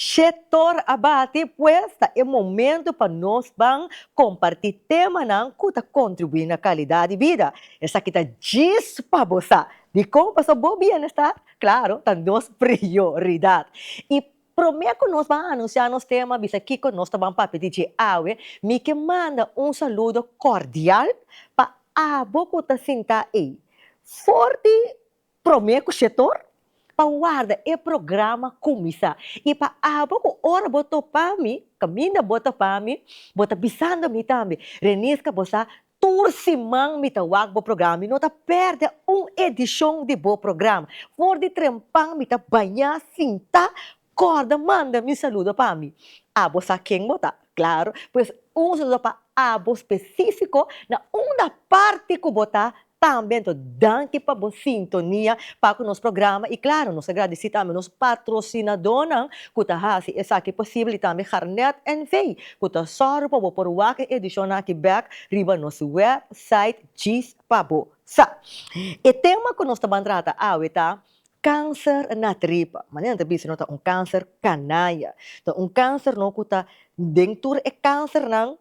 Shetor a bati, pues ta e momento pa nos ban comparti temanan cu ta contribui na calidad di bida. Esaki ta djis pa bo sa di con paso bo bienestar, claro, ta nos prioridad. Y prome cu nos ban anuncia nos tema, bisa kico nos ta ban papia di dje awe, mi ke manda un saludo cordial pa abo cu ta sinta ey, for di Promé ku Shetor pa warda e programa kuminsá i pa abo ku ora bo topa mi, kaminda bo ta pa mi, bo ta bisando mi tambe. Reniska bo sa, tur siman mi ta wak bo programa, mi no ta pèrdè un edishon di bo programa. For di trempan mi ta bañá, sintá, Corda manda mi saludo pa mi. Abo sa ken bo ta, claro. Pues un saludo pa abo specifico na unda parti cu bo ta tambe. Enton danki pa bo sintonia pa cu nos programa y claro nos ta gradici tambe nos patrocinadonan cu ta haci esaki posible y tambe Garnet NV cu ta zorgo pa bo por wak e edicion aki bek riba nos website Djis pa bo sa. E tema cu nos ta ban trata awe ta. Kanser na tripa. Manera nan ta bisa no ta un kanser kanaya. Ta un kanser no ku ta den tur e kansernan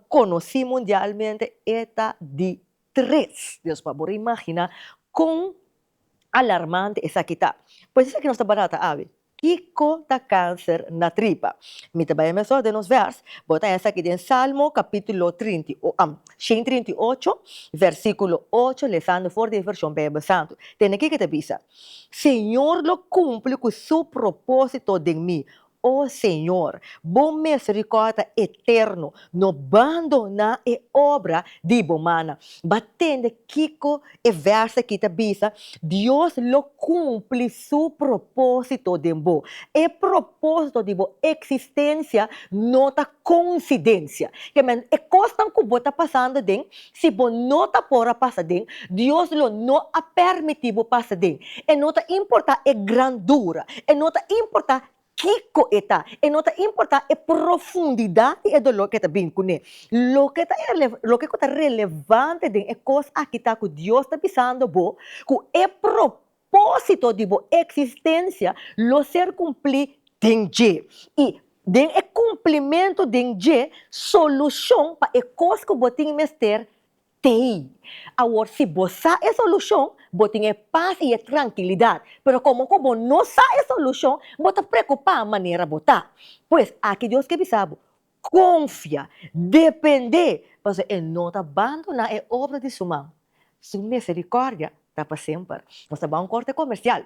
konosí mundialmente e ta di tres. Dios pa por imaginá kon alarmante esaki ta. Pues esaki nos ta barata awe. Kiko ta kanser na tripa? Mi ta bai mesora den nos vèrs, bo ta esaki den Salmo kapítulo trinta i o, am, shen trinta i ocho, vèrsikulo ocho, lesando for di e vershon Beibel Santu. Tene kiko ta bisa? Señor lo kumpli ku Su propósito den mi. O Señor, Bo meserikòrda eterno no bandoná e obra di Bo mannan. Bo a tende kiko E vers aki ta bisa, Dios lo cumpli su propósito den bo. E propósito di bo existencia no ta coincidencia. Ke men, e cosnan cu bo ta pasando den, si bo no ta por a pasa den, Dios lo no a permiti bo pasa den. E no ta importa e grandura, e no ta importa Kiko e ta. E no ta importá e profundidat di e doló ke ta bini ku ne. Loke ta e loke ku ta relevante den e kos aki ta ku Dios ta bisando bo ku e propósito di bo eksistensia lo ser kumplí den dje, i den e kumplimentu den dje solushon pa e kos ku bo tin mester Tei. Awor si bo sa e solushon, bo tin e pas i e trankilidat. Pero komo ku bo no sa e solushon, bo ta preokupá manera bo ta. Pues, aki Dios ke bisa bo, Konfia, dependé, pasobra E no ta bandoná e obra di Su man. Su miserikòrdia ta pa semper. Nos ta bai un kòrte komersial.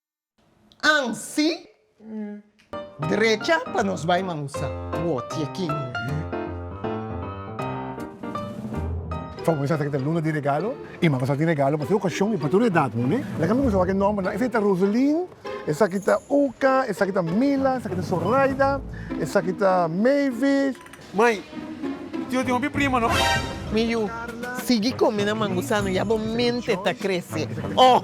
Ansi, drecha pa nos bai mangusa. Wotie kin. Fabor sa ta kita luna di regalo i mango sa tin regalo pa tur okashon i pa tur edat no ne. Laga mi kuminsa wak e nòmbernan. Esei ta Roselin, esaki ta Uka, esaki ta Mila, esaki ta Sorayda, esaki ta Mavis, Mai, Tio tin hopi prima no. Mi yu, Sigui come nan mangusano ya bo mente ta crece. Oh!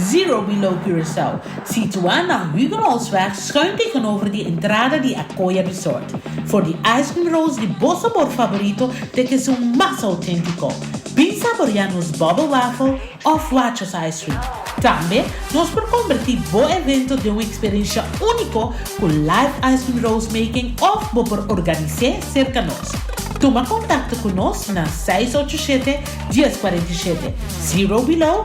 Zero Below Curaçao, situá na Huguenotsweg schuin tegenover di entrada di Acoya Resort, for di ice cream rolls di bo sabor favorito te ke su mas auténtico. Bin saborea nos bubble waffle of Wachos ice cream. Tambe nos por converti bo evento den un experiencia único cu live ice cream rolls making of bo por organise cerca nos. Tuma contacto cu nos na seis ocho siete, dies cuarenta y siete. Zero Below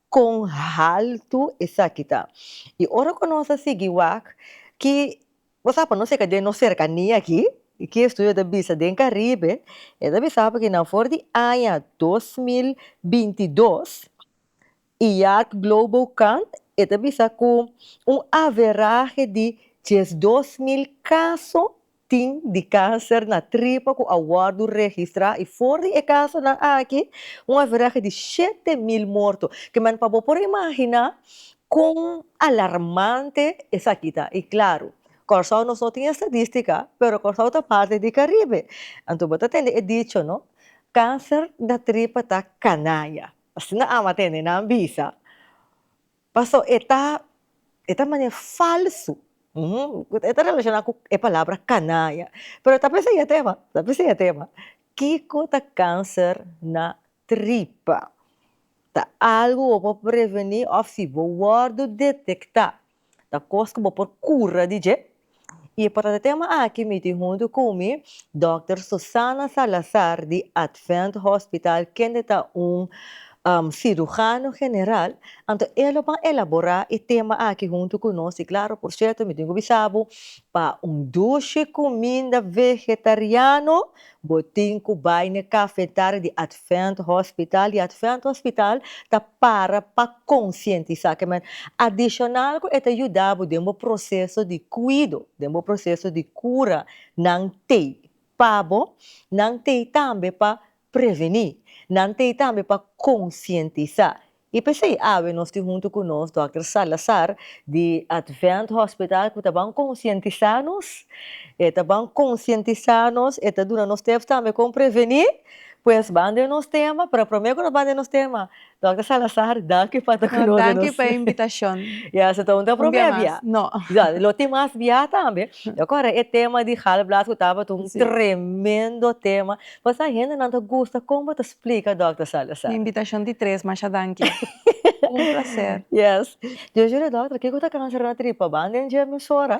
Kon haltu esaki ta! I ora ku nos a sigui wak ki bo sa pa nos yega den nos serkania aki, ki estudio ta bisa den Karibe, e ta bisa bo ki na for di aña dos mil binti i dos, IARC Global Count e ta bisa ku un averahe di diesdos mil kaso tin di kanser na tripa ku a wòrdu registrá i for di e kasonan aki un averahe di shete mil morto. Kiman pa bo por imaginá kon alarmante esaki ta. I klaru, Kòrsou nos no tin e stadístika, pero Kòrsou ta parti di Karibe. Anto bo ta tende e dicho no, kanser na tripa ta kanaya. Asina ama tende nan bisa. Paso e ta e ta mane falsu e ta relashona ku e palabra kanaya pero ta p'esei e tema ta p'esei e tema kiko ta kanser na tripa ta algu bo por preveni òf si bo wòrdu detektá ta kos ku bo por kura di dje Y pa trata e tema aki mi tin hunto cu mi Doctor Susana Salazar di Advent Hospital kende ta un cirujano general, anto e lo ban elabora e tema aki hunto cu nos y claro por cierto mi tin cu bisabu pa un dushi cuminda vegetariano bo tin cu bay n'e cafetaria di Advent Hospital y Advent Hospital ta para pa konsientisá ke manera. Adishonal ku e ta yuda bo den bo proseso di kuido, den bo proseso di kura, nan t'ei pa bo, nan t'ei tambe pa prevení, nan t'ei tambe pa konsientisá. I p'esei awe nos tin huntu ku nos Dòkter Salazar di Advent Hospital ku ta ban konsientisá nos, e ta ban konsientisá nos, e ta duna nos tèps tambe kon prevení, Pues ban den nos tema, pero prome cu nos ban den nos tema, Dòkter Salazar, danki pa ta cu nos den nos tema. No, danki pa e invitacion. Ya, so ta un ta prome bia. Un bia mas, no. Ya, lo tin mas bia tambe. Lo core, e tema di galblaas cu tabata un tremendo tema. Pues a hendenan ta gusta con bo ta splica, Dòkter Salazar. Mi invitacion di tres, masha danki. Un placer. Yes. Yo jur'é, Dòkter, kico ta cancer na tripa? Ban den dje emisora.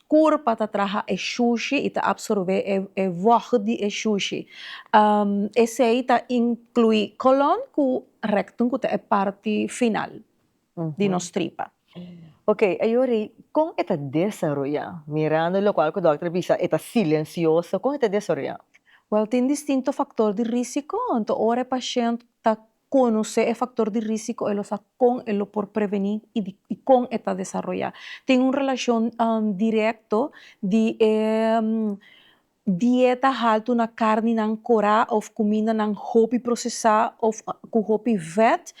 Kur pa ta traha e shushi y ta absorbé e wòg di e shushi. Esei ta inclui colon cu rectum cu ta e parti final di nos tripa. Ok, ayora y con e ta desaroya? Mirando locual cu dokter a bisa e ta silencioso, con e ta desaroya? Wel, tin distinto factor di risico, anto ora e pashent ta Conoce e factor di risico e lo sa con e lo por preveni y di y con e ta desaroya. Tin un relacion directo di e dieta halto na carninan cora of cumindanan hopi procesa of cu hopi vet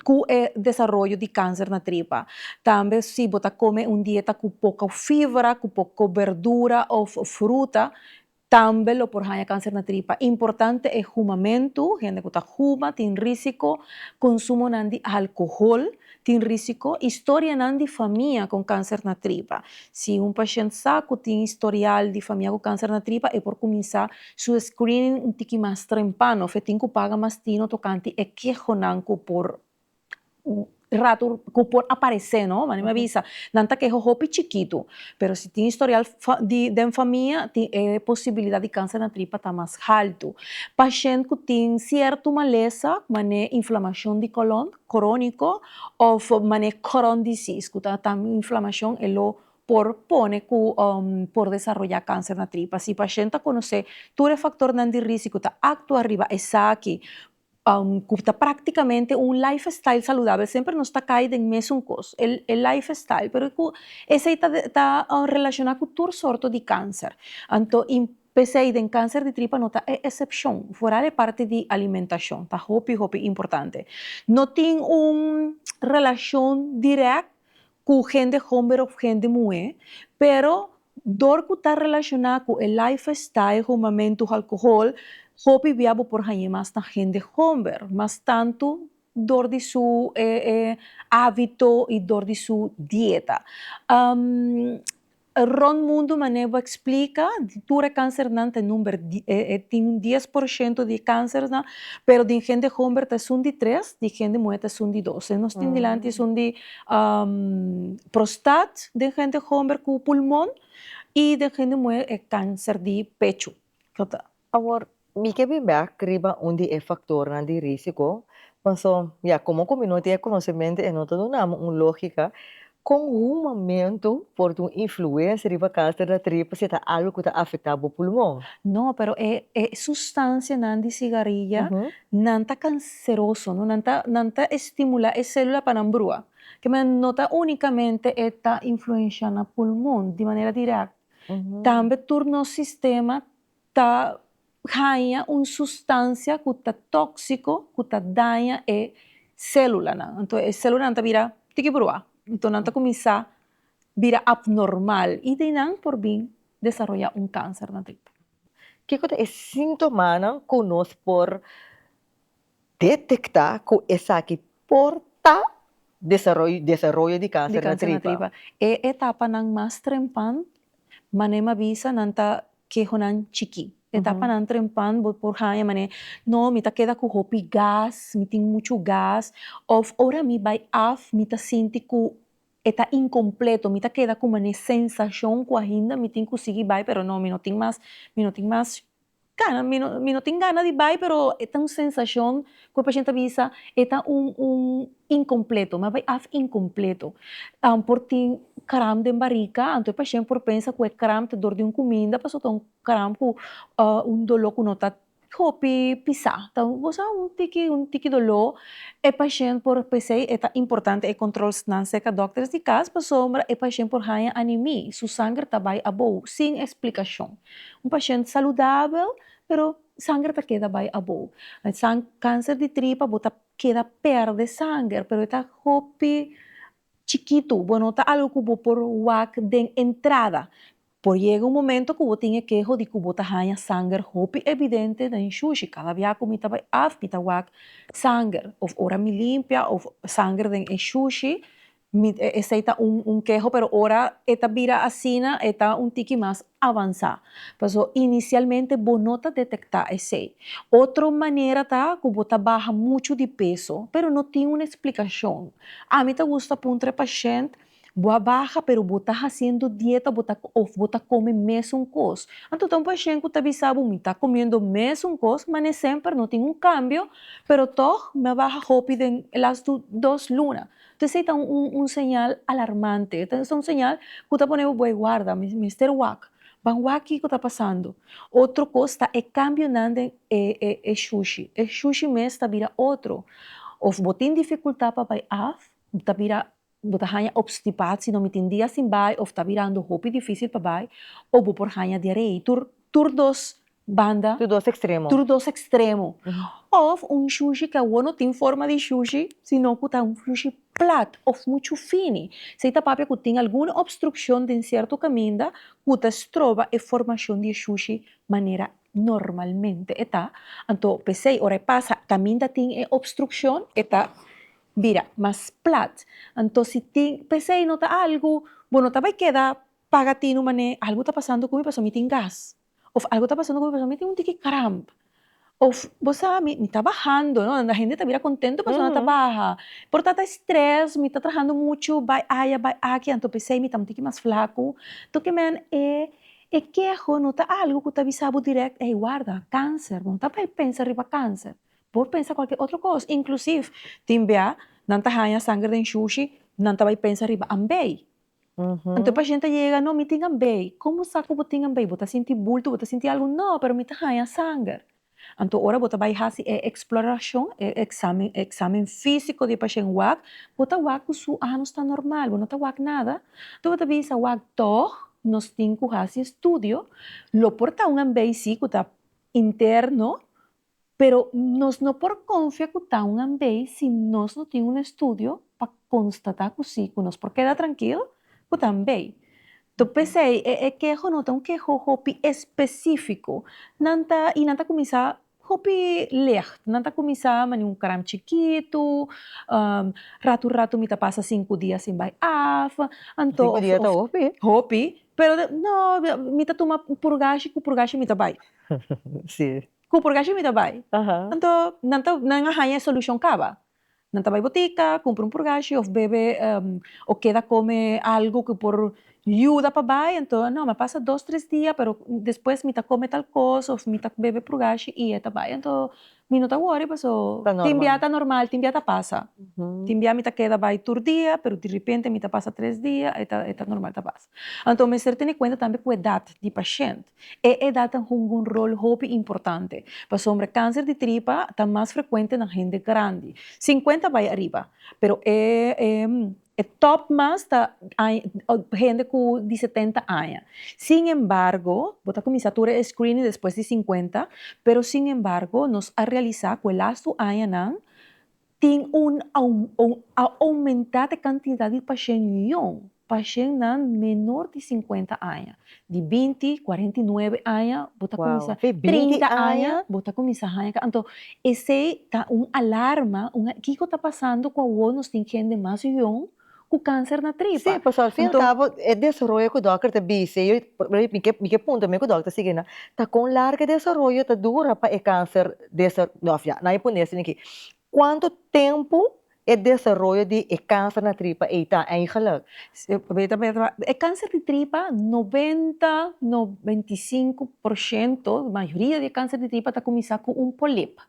cu e desaroyo di cancer na tripa. Tambe si bo ta come un dieta cu poco fibra, cu poco berdura of fruta Tambe lo por haña kanser na tripa. Importante e humamentu, hende ku ta huma tin risiko, konsumonan di alkohol tin risiko, i storianan di famia kon kanser na tripa. Si un pashent sa ku tin historial di famia ku kanser na tripa e por kuminsá su screening un tiki mas trempano of e tin ku paga mas tino tokante e kehonan ku por ratu ku por aparesé no wak mi a bisa nan ta keha hopi chikitu pero si tin historial den famia tin e posibilidat di kanser na tripa ta mas haltu pashent ku tin sierto malesa manera inflamashon di kolon kroniko òf manera kron disis ku ta tan inflamashon e lo por pone ku por desaroyá kanser na tripa si pashent ta konosé tur e faktornan di risiko ta aktua riba esaki ku ta praktikamente un lifestyle saludabel semper nos ta kai den mesun kos e lifestyle pero ku esei ta relashona ku tur sorto di kanser anto pesei den kanser di tripa no ta e esepshon foral e parti di alimentashon ta hopi hopi importante no tin un relashon dirèk ku hende homber òf hende muhé pero. Dor ku ta relashoná ku e lifestyle humamentu halkohol, hopi bia bo por hañ'é mas na hende homber, mas tantu dor di su hábito i dor di su dieta. Rònt mundu manera bo a eksplika, tur e kánsernan ta number tin un dies por shento di e kánsernan, pero den hende homber ta esun di tres, di hende muhé ta esun di dos. Nos tin dilanti esun di. prostat den hende homber ku pulmon i den hende muher e kanser di pechu. Awor mi ke bin bèk riba un di e faktornan di risiko, paso ya komo ku mi no tin e konosementu e no ta duna mi un lógika kon humamentu por tin un influensia riba kanser na tripa si ta algu ku ta afektá bo pulmon. No, pero e sustansianan di sigarilla nan ta. seroso, no? Nan ta, nan ta estimula e célula pa nan brua. Kemey no ta únicamente e ta influencia na pulmon di manera direct, tambe tur nos sistema ta haña un sustancia cu ta tóxico cu ta daña e célulanan. Anto e célulanan ta bira tiki brua, anto nan ta cuminsa bira abnormal y de nan por bin desaroya un cáncer na dentro. Kico ta e síntomanan cu nos por detektá ku esaki por ta desaroyo di kanser na tripa. E etapanan mas trempan, manera mi a bisa, nan ta kehonan chikí. E etapanan trempan bo por haña manera, no, mi ta keda ku hopi gas, mi tin muchu gas, òf ora mi bai af mi ta sinti ku e ta inkompleto, mi ta keda ku manera sensashon ku ainda mi tin ku sigui bai pero no, mi no tin mas, mi no tin mas. Cana, mi no, mi no tin gana di bay, pero e ta un sensacion cu e paciente ta bisa e ta un, un incompleto, mi a bay af incompleto. Am, por tin cramp den barica, anto e paciente por pensa cu e cramp ta dor di un cuminda, pasobra ta un cramp cu, un dolo cu no ta hopi pisa, ta goz a un tiki, un tiki dolo, e paciente por, pesey e ta importante e controls nan cerca docters di cas, pasobra e paciente por haya animi, su sanger ta bay abou, sin explicacion. Un pashènt saludabel pero sanger ta keda bai abo. Cáncer di tripa bo ta keda pèrdè sanger pero e ta hopi chikitu, bo no ta algu ku bo por wak den entrada. Por yega un momento ku bo tin e keho di ku bo ta haña sanger hopi evidente den shushi. Kada bia ku mi ta bai af mi ta wak sanger, òf ora mi limpia òf sanger den e shushi Mi e esei ta un un keho pero ora e ta bira asina e ta un tiki mas avansá. Paso inisialmente bo no ta detektá esei. Otro manera ta ku bo ta baha muchu di peso pero no tin un eksplikashon. Ami ta gusta puntra e pashènt, Bo a baha pero bo ta hasiendo dieta bo ta òf bo ta kome mesun kos? Anto ta un pashènt ku ta bisa bo mi ta komiendo mesun kos mane semper no tin un kambio pero tòg mi a baha hopi den e lastu dos luna. Ta esei ta un señal alarmante. Ta un señal ku ta pone bo bo ei warda, mi mester wak. Ban wak kiko ta pasando. Otro kos ta e kambionan den e shushi. E shushi mes ta bira otro. Òf bo tin difikultá pa bai af, ta bira bo ta haña opstipatie, no mi tin dia sin bai, òf ta birando hopi difísil pa bai, o bo por haña diarei. Tur tur dos banda. Tur dos extremo. Tur dos extremo. Of un shushi ke awor no tin forma di shushi, sino ku ta un shushi plat of muchu fini. Esei ta papia ku tin algun obstrukshon den sierto kaminda ku ta stroba e formashon di e shushi manera normalmente e ta. Anto p'esei ora e pasa kaminda tin e obstrukshon e ta bira mas plat. Anto si tin p'esei no ta algu bo no ta bai keda paga tinu manera algu ta pasando ku mi pasobra mi tin gas. Of algu ta pasando cu mi persona, mi tin un tiki kramp. Of bo sa, mi, mi ta bahando, no, la hende ta bira contento e persona ta baha. Por ta ta e stress, mi ta trahando muchu, bai aya, bai aki, anto pesey mi ta un tiki mas flacu. Toque men e, e keho no ta algu cu ta bisa bo direct, ey, warda, cancer, bo no ta bai pensa riba cancer. Por pensa cualkier otro cos, inclusive tin bia nan ta haya sanger den shushi, nan ta bai pensa riba ambey. Uhuh. Enton pashent a yega, no, mi tin ambei. Como sa cu bo tin ambei? Bo ta sinti bulto, bo ta sinti algo? No, pero mi ta haya sanger. Anto ora bo ta bay haci e exploracion, e examen, e examen fisico di e pashent wak, bo ta wak cu su anos ta normal, bo no ta wak nada. Enton bo ta bisa, wak, tog nos tin cu haci estudio, lo por ta un ambei si cu ta interno, Pero nos no por konfia ku ta un ambei si nos no tin un estudio pa konstatá ku si, ku nos por keda trankil ku ta ambei. Tok p'esei e e keho no ta un keho hopi espesífiko. Nan ta, i nan ta kuminsá hopi lègt. Nan ta kuminsá manera un kram chikitu, ratu ratu mi ta pasa sinku dia sin bai af, anto. Sinku dia ta hopi? Hopi, pero mi ta tuma purgashi, ku purgashi mi ta bai. Cu por gashi mi ta bay? Anto nan ta nan a haña e solucion caba. Nan ta bay botica, cumpra un purgashi of bebe o keda come algo cu por yuda pa bay. Anto no, mi a pasa dos, tres dia pero despues mi ta come tal cos of mi ta bebe purgashi y e ta bay. Anto mi no ta worry paso tin bia ta normal, tin bia ta pasa. Tin bia mi ta keda bay tur dia pero direpente mi ta pasa tres dia e ta normal ta pasa. Anto mester tene cuenta tambe cu edad di pashent. E edat ta hunga un rol hopi importante, pasobra kanser di tripa ta mas frekuente na hende grandi, sinkuenta bai ariba, pero e e tòp mas ta hende ku di setenta aña. Sin embargo, bo ta kuminsá tur e screening despues di sinkuenta, pero sin embargo nos a realisá ku e lastu añanan, Tin un oumentá t'e kantidat di pashen jon, pashennan menor di sinkuenta aña, di binti, kuarenta i nuebe aña, bo ta kuminsá, trinta aña, bo ta kuminsá haña ka. Anto, esei ta un alarma, un, kiko ta pasando ku awor nos tin hende mas jon? ku kanser na tripa. Sí, pasobra al fin y al cabo e desaroyo ku dòkter ta bis'e yo, mi ke punto mi ku dòkter Siginda ta kon largu e desaroyo ta dura pa e kanser desa òf ya nan a pone esei aki, kuantu tempu e desaroyo di e kanser na tripa ei ta eigelijk? E kanser di tripa noventa no veinti sinku por shento mayoria di e kanser di tripa ta kuminsá ku un polip,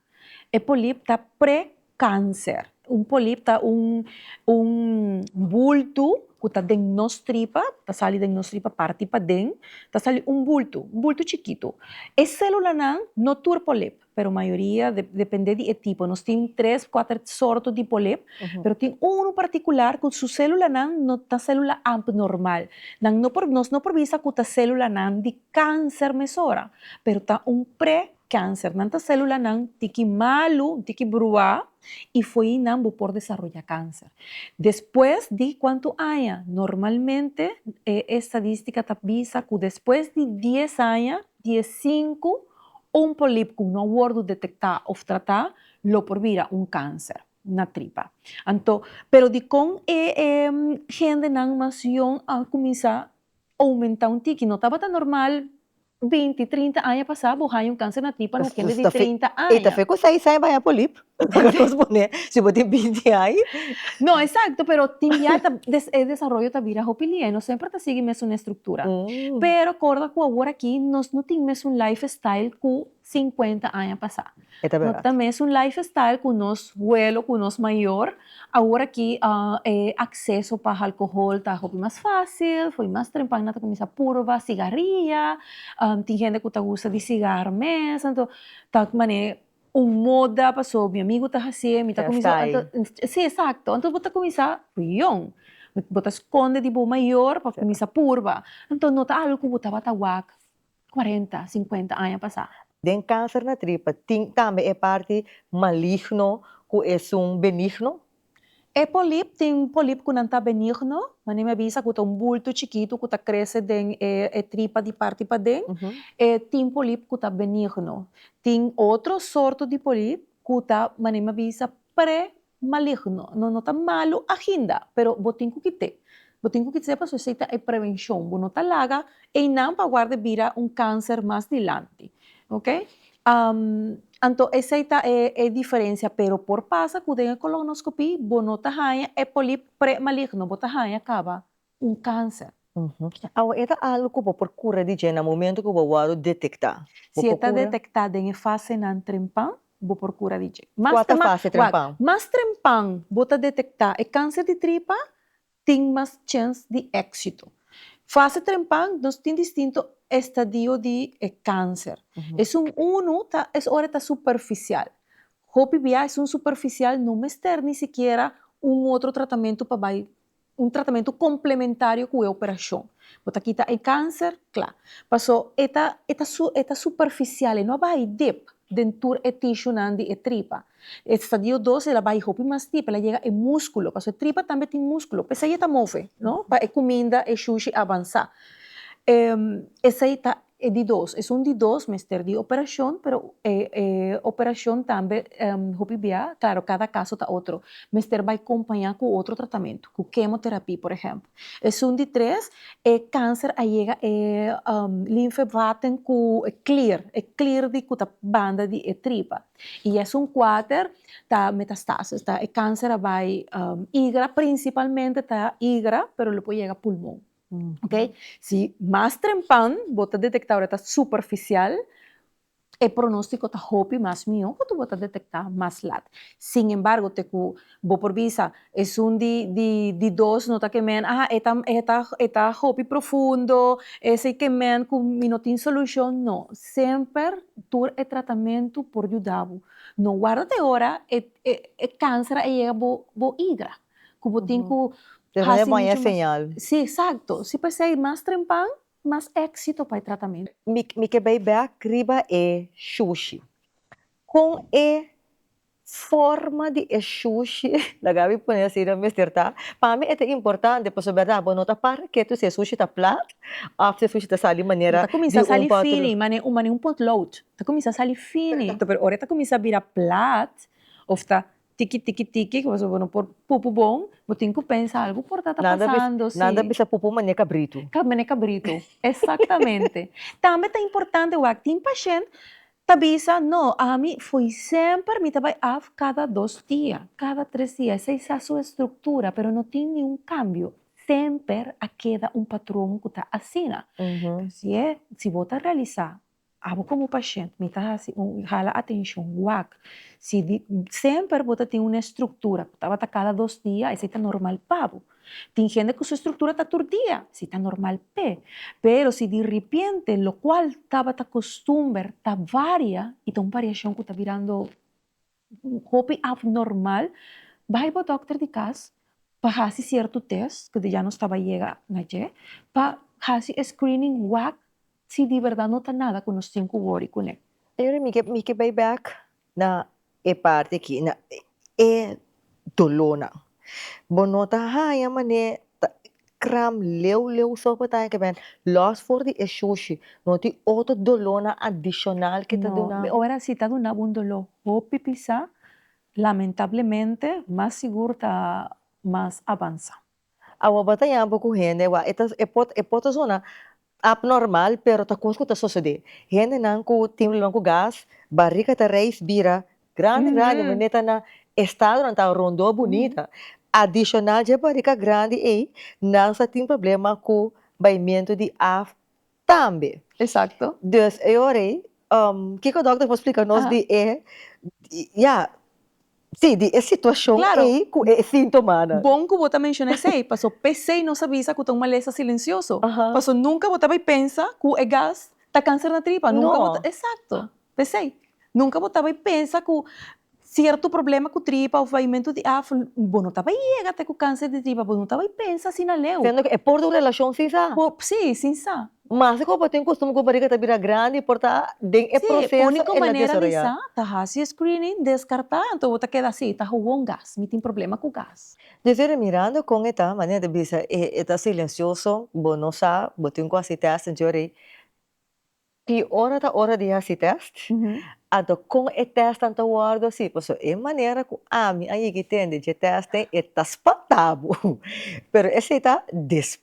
e polip ta pre Kanser. Un polip ta un un bultu ku ta den nos tripa, ta sali den nos tripa parti paden, ta sali un bultu, un bultu chikitu. E sélulanan, no tur polip, pero mayoria de dependé di e tipo, nos tin tres, kuater sorto di polip, pero tin unu partikular ku su sélulanan no ta sélula apnormal. Nan no por nos no por bisa ku ta sélulanan di kanser mesora, pero ta un pre Cancer. Nan ta celulanan tiki malu, tiki brua y fo'i nan bo por desaroya cancer. Despues di cuanto aña? Normalmente e estadistica ta bisa cu despues di dies aña, di e cinco, un polip cu no a wordo detecta of trata lo por bira un cancer na tripa. Anto, pero dicon e e gendenan mas jong a cuminsa Oumentá un tiki no tabata normal. Binti, trinta aña pasá bo haña un kanser na tripa na kende di trinta aña. E ta fe ku seis aña bo haña polip. Nos pone si bo tin binti aña. No, eksakto, pero tin bia ta e desaroyo ta bira hopi lia i nos semper ta sigui mesun estruktura. Pero korda ku awor aki nos no tin mesun lifestyle ku 50 aña pasá. E ta bera. Ta mes un lifestyle ku nos huelo, ku nos mayor. Awor aki e akseso pa halkohol ta hopi mas fásil, fo'i mas trempa nan ta kuminsá purba sigaria, tin hende ku ta gusta di sigar mes, anto ta manera un moda paso mi amigu ta hasié, mi ta kuminsá anto si esakto, anto bo ta kuminsá yon, bo ta skonde di bo mayor pa kuminsá purba, anto no ta algu ku bo tabata wak cuarenta, cincuenta aña pasá. Den cáncer na tripa tin tambe e parti maligno cu esun benigno? E polip, tin polip cu nan ta benigno, manera mi a bisa cu ta un bulto chikitu cu ta crece den e tripa di parti paden, e tin polip cu ta benigno. Tin otro sorto di polip cu ta, manera mi a bisa, pre maligno no no ta malu ainda pero bo tin cu kit'e bo tin cu kit'e pasobra esey ta e prevencion bo no ta laga eynan pa warda e bira un cancer mas dilanti ok anto esey ta e diferencia pero por pasa cu den e colonoscopy bo no ta haya e polip premaligno bo ta haya caba un kanser. Awa e ta algu ku bo por kura di dje na momentu ku bo a wòrdu detektá? Si e ta detektá den e fasenan trempan, bo por kura di dje. Kua ta fase trempan? Mas trempan bo ta detektá e kanser di tripa, tin mas chens di éksito. Fase trempan nos tin distinto estadio di e kanser. Esun unu ta es ora e ta superfisial. Hopi bia esun superfisial no mester ni sikiera un otro tratamentu pa bai Un tratamentu komplementario ku e operashon. Bo ta kita e kanser? Kla. Paso e ta e ta su e ta superfisial, e no a bai dip den tur e tishunan di e tripa. Estadio dos el a bai hopi mas dip, el a yega e muskulo, paso e tripa tambe tin muskulo, p'esei e ta move, no? Pa e kuminda, e shushi, a avansá. Esei ta E di dos, esun di dos mester di operashon, pero e operashon tambe hopi bia, klaro kada kaso ta otro, mester bai kompañá ku otro tratamentu, ku kemoterapia por ehèmpel. Esun di tres, e kanser a yega e linfevaten ku e klir, e klir di ku ta banda di e tripa. I esun kuater ta metastasis, ta e kanser a bai igra, prinsipalmente ta igra, pero lo por yega pulmon. Oke, si mas trempan bo ta detekta ora ta superfisial, e pronostiko ta hopi mas mihó katu bo ta detektá mas lat. Sin embargo te ku bo por bisa esun di di di dos no ta kemen a e ta e ta e ta hopi profundo, es ei kemen ku mi no tin solushon, no. Semper tur e tratamentu por yuda bo. No warda te ora e e e kanser a yega bo bo igra. ku bo tin ku hasi muchu mas. Sí, eksakto. Sí p'esei mas trempan, mas éksito pa e tratamentu. Mi ke bai bèk riba e shushi. Kon e forma di e shushi, la Gaby pone asina, mester ta? Pa mi e ta importante pasobra bèrdat bo no ta parha ke tur si e shushi ta plat òf si e shushi ta sali manera di un potlood. Ta kuminsá sali fini, manera un potlood. Ta kuminsá sali fini. Pero ora e ta kuminsá bira plat òf ta Tiki tiki tiki ku pasobra bo no por pupu bon bo tin ku pensa algu por ta ta pasando si. Nada bisa pupu mane kabritu. Mane kabritu esaktamente tambe ta importante wak tin pashènt ta bisa no ami foi semper mi ta bai af kada dos dia kada tres dia esei sa su estruktura pero no tin niun kambio semper a keda un patron ku ta asina si e si bo ta realisa Abo komo pashent mi ta hasi un hala atenshon wak si di semper bo ta tin un estruktura ku tabata kada dos dia esei ta normal pa bo tin hende ku su estruktura ta tur dia esei ta normal p'e pero si diripiente lokual tabata kustumber ta varia i ta un bariashon ku ta birando hopi abnormal bai bo dokter di kas pa hasi sierto test ke ya nos taba yega na dje pa hasi e screening wak si di berdad no ta nada ku nos tin ku wori kuné. Pero mi ke mi ke bai bek na e parti aki na e dolónan bo no ta haña manera ta Kram leu leu so por ta hekebèn. Lòs for di e shushi, no tin otro dolónan adishonal ke ta duna? No, ora si ta duna bo un doló hopi pisá, lamentablemente mas sigur ta mas avansá. Awa bo ta yama bo ku hende, e por ta zona Abnormal, pero ta cos cu ta sosode. Hendenan cu tin probleman cu gas, barica ta reis bira grandi grandi, me meta na estadonan ta Rondó, Bonita. Adicional dje barica grandi ey, nan sa tin problema cu baimento di af tambe. Exacto. Dus e ora ey, kico dokter por splica nos di e, ya. Sí, di e situacion Claro. ey cu e sintomanan. Bon cu bo ta menciona esey, paso pesey nos a bisa cu ta un malesa silencioso. Aha. Paso nunca bo ta bay pensa cu e gas ta cancer na tripa, nunca bo ta, No. exacto, pesey, nunca bo ta bay pensa cu cierto problema cu tripa of vaimentu di af, bo no ta bay yega te cu cancer di tripa, bo no ta bay pensa asina leu. Siendo cu e por ta un relacion sin sa. Por, sí, sin sa. Mas si koba tin kostumber ku bariga ta bira grandi por ta den e proseso el a desoroyá. Sí, úniko manera di sa ta hasi e screening, deskartá anto bo ta keda sí, ta huwon gas, mi tin problema ku gas. Djeffery Miranda kon e ta, manera di bisa e ta silensioso, bo no sa, bo tin ku hasi tèst den Ciudad Rey, ki ora ta ora di hasi tèst, anto kon e tèstnan ta wòrdu hasi, pasobra e manera ku ami a yegi tende dje tèstnan e ta spantá bo, pero esei ta.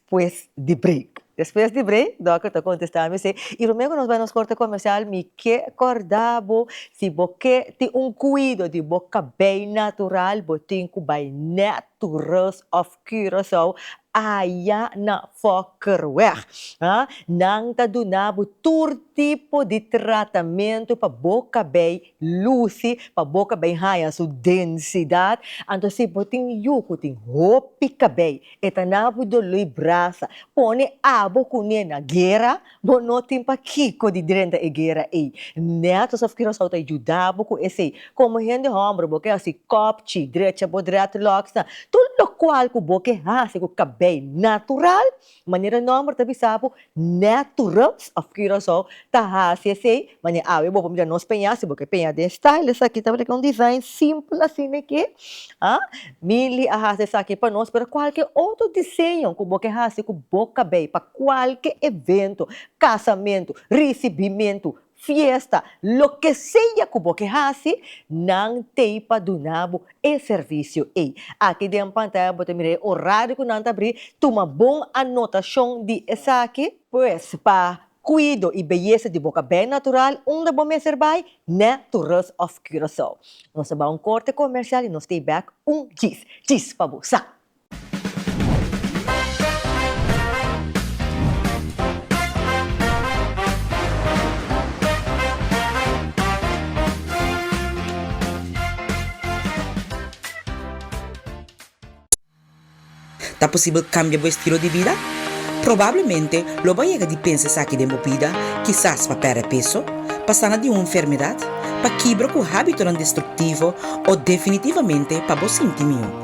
Pues di break. Despues di break, Dòker ta kontestá mi sey, i Romeo ku nos bai nos korte komersial, mi ke kòrda bo, si bo ke tin un kuido di bo kabei natural, bo tin ku bai nèt to Rust of Curaçao, aya na Fokkerweg. Ha, nan ta duna bo tur tipo di tratamentu pa bo kabei Luci pa boca bay haya su densidad, anto si bo tin yu cu tin hopi cabey e ta na bo dolo y brasa, pone abo cune na guera, bo no tin pa kico di drenta e guera ey, net alsof ki Rosao ta yuda bo cu esey, como hende homber bo ke haci kopchi, drecha bo dreadlocks nan, tur locual cu bo ke haci cu cabey natural, Manera nòmber ta bisa bo, Naturals of Curaçao ta hasi esei, ma ne awe bo por mira nos peña, si bo ke peña den style esaki tabata ke un design simpel asina eke, a Milly a hasi esaki pa nos, pero kualke otro diseño ku bo ke hasi ku bo kabei pa kualke evento, kasamento, risibimentu, Fiesta, loke sea cu bo ke haci, nan tey pa duna bo e servicio ey. Aki den pantaya bo ta mira e horario cu nan ta bri, tuma bon anotacion di esaki. Pues, pa cuido y beyesa di bo caben natural, unda bo mester bay? Na Tourist of Curaçao. Nos ta bay un corte comercial y nos tey back un djis, djis pa bo sa! Ta posibel kambia bo estilo di bida? Probablemente lo bo a yega di pensa esaki den bo bida, kisas pa pèrdè peso, pa sana di un enfermedat, pa kibra ku hábitonan destruktivo o definitivamente pa bo sinti mió.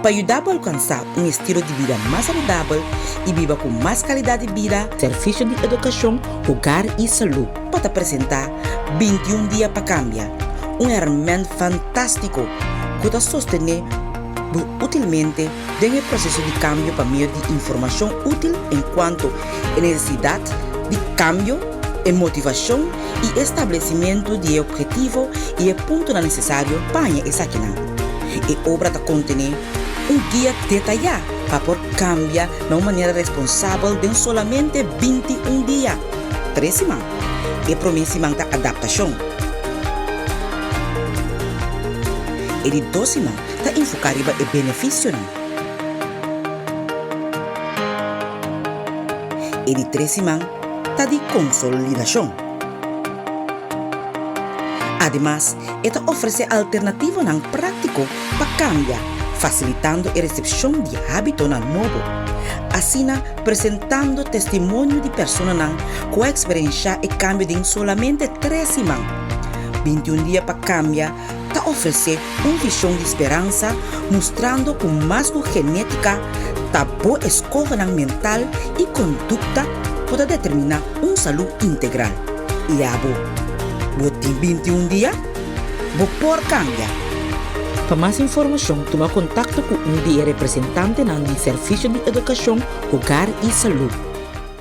Pa yuda bo alkansá un estilo di bida mas saludabel i biba ku mas kalidat di bida, Servisio di Edukashon, Hogar i Salú por ta presentá Bintiun dia pa kambia, un hèrmènt fantástiko ku ta sostené bo útilmente den e proseso di kambio pa medio di informashon útil en kuanto e nesesidat di kambio, e motivashon i e stablesimentu di e obhetivo i e puntonan nesesario paña esakinan. E obra ta kontené un guia detayá pa por kambia na un manera responsabel den solamente binti un dia, tres siman. E promé siman ta adaptashon. E di dos siman ta enfoká riba e benefisionan. E di tres siman. ta di konsolidashon. Ademas, e ta ofresé alternativonan práktiko pa kambia, fasilitando e resepshon di hábitonan nobo, asina presentando testimonio di personanan ku a eksperenshá e kambio den solamente tres siman. Bintiun dia pa kambia ta ofresé Un vision di speransa mustrando cu mas cu genetica ta bo escogenan mental y conducta por ta determina un salud integral. Y abo? Bo tin bintiun dia? Bo por cambia! Pa mas informacion tuma contacto cu un di e representantenan di Servicio di Educacion, Hogar y Salud.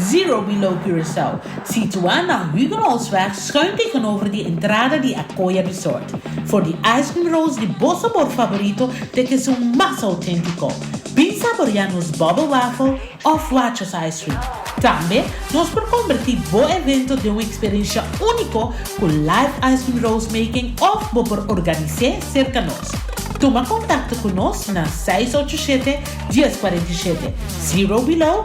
Zero Below Curaçao, situá na Huguenotsweg schuin tegenover di entrada di Acoya Resort, for di ice cream rolls di bo sabor favorito te ke su mas auténtico. Bin saboriá nos bubble waffle of Wachos ice cream. Tambe nos por convertí bo evento den un experiencia único cu live ice cream rolls making of bo por organise cerca nos. Tuma contacto cu nos na seis ocho siete, dies cuarenta y siete. Zero Below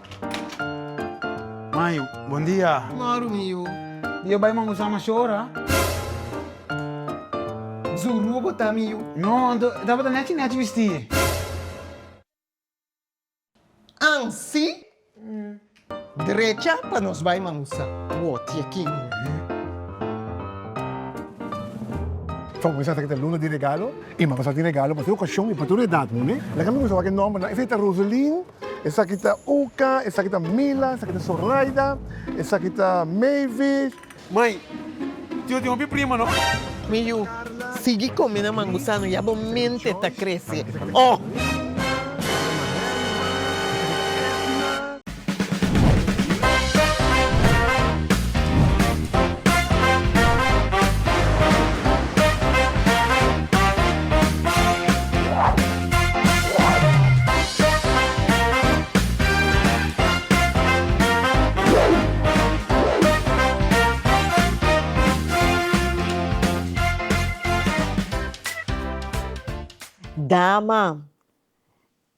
Mayo, Bon dia. Maru miu, Di yo bai man usa masho ora. Zuru bo ta miu. No, anto e tabata nechi nechi bisti. An si, drecha pa nos bai man usa. Woti aki. Fo mi sa ta luna di regalo i man pa sa tin regalo pa tur okashon i pa tur edat, moe. Lak a mi gusta wak e nombernan, efecto Roselyn. Esaki ta Uka, esaki ta Mila, esaki ta Zoraida, esaki ta Mavis. Mai, tio tin hopi prima no. Mi yu, sigui komi na mangusano ya bo mente ta krese, oh! Dama,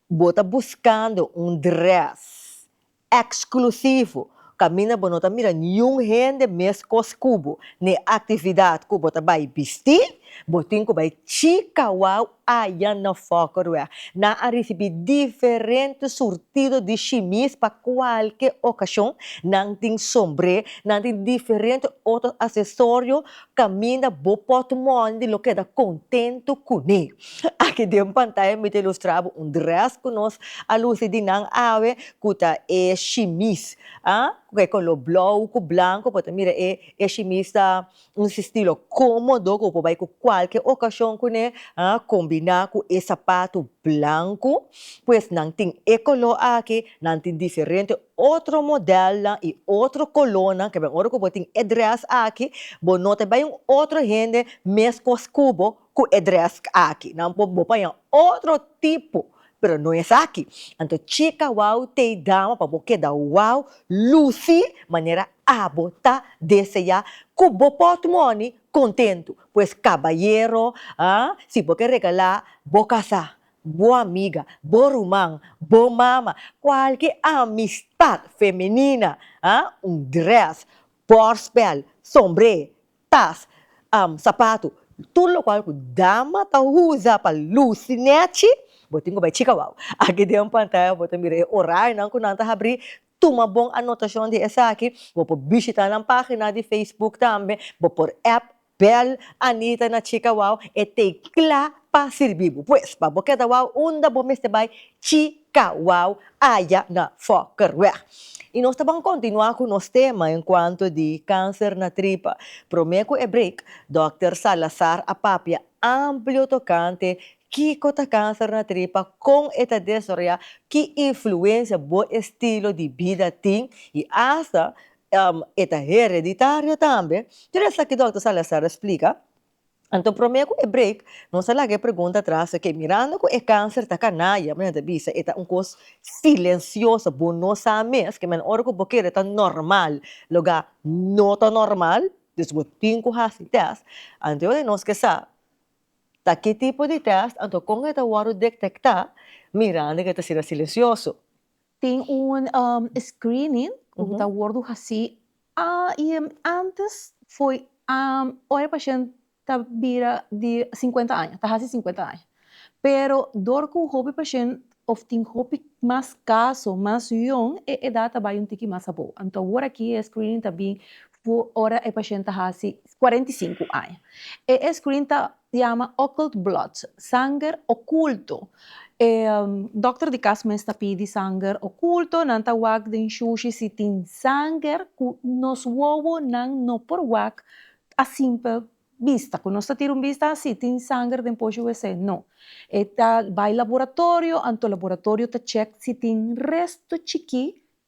bo ta buskando un dress. Eksklusivo, Kaminda bo no ta mira niun hende meskos ku bo n'e aktividat ku bo ta bai bisti, bo tin ku bai chika wou ayan na Fòkroe. Nan a risibí diferente surtido di shimis pa kualke okashon, nan tin sombré, nan tin diferente otro asesorio Caminda bo pot mòni di lo keda contento cuné. Aki den pantaya mi ta ilustra bo un dress cu nos a luci di nan awe cu ta e shimis ah cu e color blou cu blanco bo ta mira e e shimis ta un stilo comodo cu bo por bay cu cualkier ocasion cuné ah combina cu e sapato blanco pues nan tin e color aki nan tin diferente otro modelnan y otro colornan ke ora ku bo tin e dress aki bo no ta bay un otro hende mes kos kubo ku e dress aki nan por bo paña otro tipo pero no esaki anto chika wou tey dama pa bo keda wou luci manera abo ta desea ku bo pot moni contento pues cabayero ah si bo ke regala bo casa bo amiga, bo ruman, bo mama, kualke amistat femenina, ha, un dress, bòrstbèl, sombré, tas, am, sapatu, tur lokual ku dama ta usa pa lusi nèchi, bo tin ku bai chika wou. Aki den pantaya bo ta mira e orarionan ku nan ta habrí, tuma bon anotashon di esaki, bo por bishitá nan página di Facebook tambe, bo por app Bel Anita na Chica Wow e t'ei cla pa sirbi bo. Pues, pa bo keda wow unda bo mester bai? Chica Wow aya na Fokkerweg. Y nos ta ban continua cu nos tema en cuanto di cancer na tripa. Prome cu e break, Dokter Salazar a papia amplio tocante kico ta cancer na tripa, con e ta desoroya, ki influencia bo estilo di bida tin y hasta E ta hereditario tambe. Tur esaki Dòkter Salazar a splika. Anto promé ku e break nos a laga e pregunta atras, oke, mirando ku e kanser ta kanaya, mi ta bisa e ta un kos silensioso, bo no sa mes, ke men ora ku bo kere ta normal, loga no ta normal, dus bo tin ku hasi tèst. Anto e nos ke sa ta ki tipo di tèst, anto kon e ta wòrdu detektá mirando ke ta ser silensioso? Tin un screening cu ta wordo haci y antes fo'i ora e pashent ta bira di cincuenta aña, ta haci cincuenta aña, pero door cu hopi pashent of tin hopi mas caso mas yong e edad ta bay un tiki mas abao, anto awor aki e screening ta bin ora e pashent ta haci cuarenta y cinco aña, e screening ta Yama occult blood, sanger oculto. E dokter di kas mes ta pidi sanger oculto, nan ta wak den shushi si tin sanger ku nos wowo nan no por wak a simpel bista, ku nos ta tira un bista asi tin sanger den poshi wc, no. E ta bai laboratorio, anto laboratorio ta check si tin resto chikí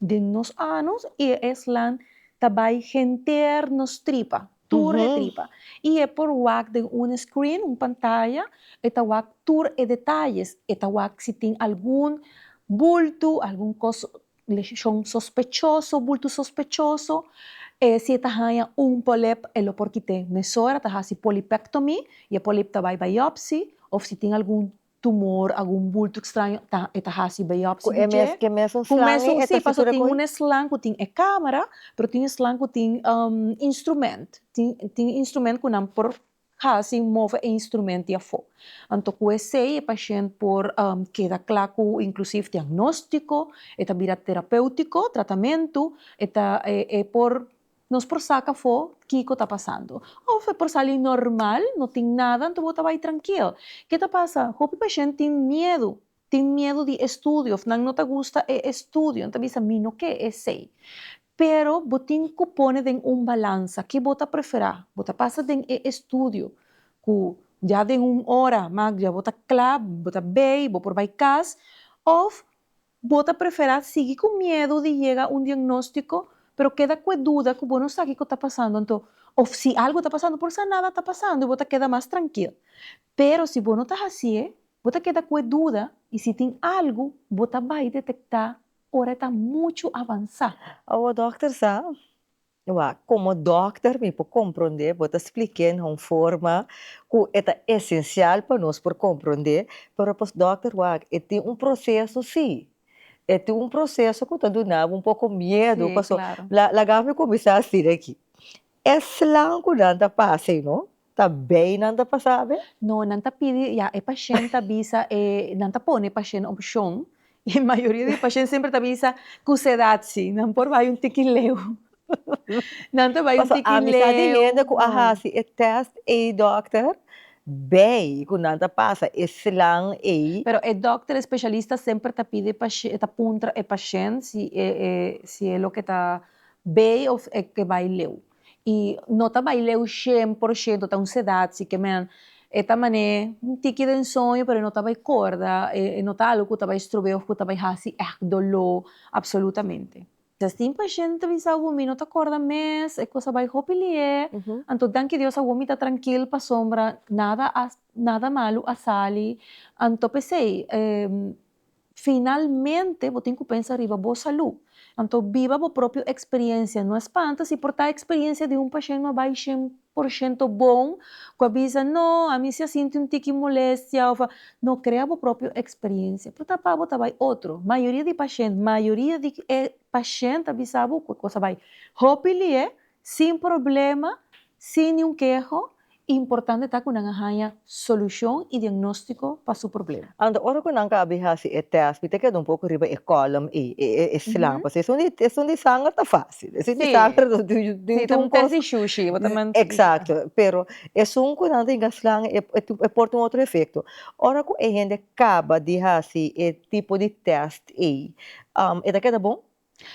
Den nos anus i e esland ta bai henter nos tripa, tur e tripa. I e por wak den un screen, un pantaya, e ta wak tur e detayes, e ta wak si tin algun bultu, algun kos leshon sospechoso, bultu sospechoso, e si e ta haña un polep e lo por kit'é mesora, ta hasi polipectomy, i e polip ta bai biopsy, of si tin algun tumor algun bulto extraño ta e ta hasi biopsia ku e mes ku e mes un slang ku e mes un si paso tin un slang ku tin e camera pero tin e slang ku tin instrument tin instrument ku nan por hasi move e instrument di afo anto ku esei e pashent por keda kla ku inklusiv diagnostiko e ta bira terapeutiko tratamentu e ta e por Nos por saca afo kico ta pasando. Of e por sali normal, no tin nada, anto bo ta bay trankil. Ke ta pasa? Hopi pashent tin miedu. Tin miedu di estudio of nan no ta gusta e estudio. Nan ta bisa, Mi no ke esey. Pero bo tin cu pone den un balansa. Ke bo ta prefera? Bo ta pasa den e estudio cu ya den un ora, magdia, bo ta cla, bo ta bay, bo por bay cas. Of Bo ta preferá sigui ku miedu di yega un diagnóstiko, pero keda ku e duda ku bo no sa kiko ta pasando anto, òf si algu ta pasando por sa nada ta pasando i bo ta keda mas trankil. Pero si bo no ta hasié, bo ta keda ku e duda i si tin algu bo ta bai detektá ora e ta muchu avansá. Awo dòkter sa Oa, komo dòkter mi por komprondé, bo ta splik'é na un forma ku e ta esensial pa nos por komprondé, pero pa dòkter wak e tin un proseso sí, e tin un proseso ku ta duna bo un poko miedu, paso laga mi kuminsá asina aki, e slang ku nan ta pasa ei no. Ta bay nan ta pasa abe? No nan ta pidi ya e pashent ta bisa e nan ta pone pashent opshon y mayoria di pashent semper ta bisa cu sedad si nan por bay un tiki leu nan ta bay un tiki leu paso amisa di hende cu a hasi e test ey dokter bay cu nan ta pasa e slang ey. Pero e dokter e specialista semper ta pidi e pashent ta puntra e pashent si e si e loke ta bay of e ke bay leu. Y no ta bay leu shen por shento, ta un sedad si kemen. E ta mané un tiki den soño pero e no ta bay corda, e no ta algo cu ta bay strobé of cu ta bay haci echt doló absolutamente. Tin pashent ta bisa awor mi no ta corda mes, e cosa bay hopi lié, anto danki Dios awor mi ta trankil pasobra nada a nada malo a sali, anto pesey Finalmente bo tin ku pensa riba bo salú. Anto biba bo propio eksperiencia. No a spanta si por ta eksperiencia di un pashent no a bai shen por shento bon, ku a bisa, No, ami si a sinti un tiki molestia òf a. No, krea bo propio eksperiencia. Por ta pa bo ta bai otro. Mayoria di pashent, mayoria di e pashent a bisa bo ku e kos a bai. Hopi li'é Sin problema, sin niun keho, importante ta ku nan a haña solushon i diagnóstiko pa su problema. Anto ora ku nan ka bin hasi e tèst, mi ta keda un poko riba e kòlom ei, e slang, pasobra esun di esun di sanger ta fásil, esun di sanger no tin tin un kos. Si, ta un tèst di shushi, bo ta manda. Eksakto, pero esun ku nan tin ka slang e e por tin otro efekto. Ora ku e hende kaba di hasi e tipo di tèst ei, e ta keda bon?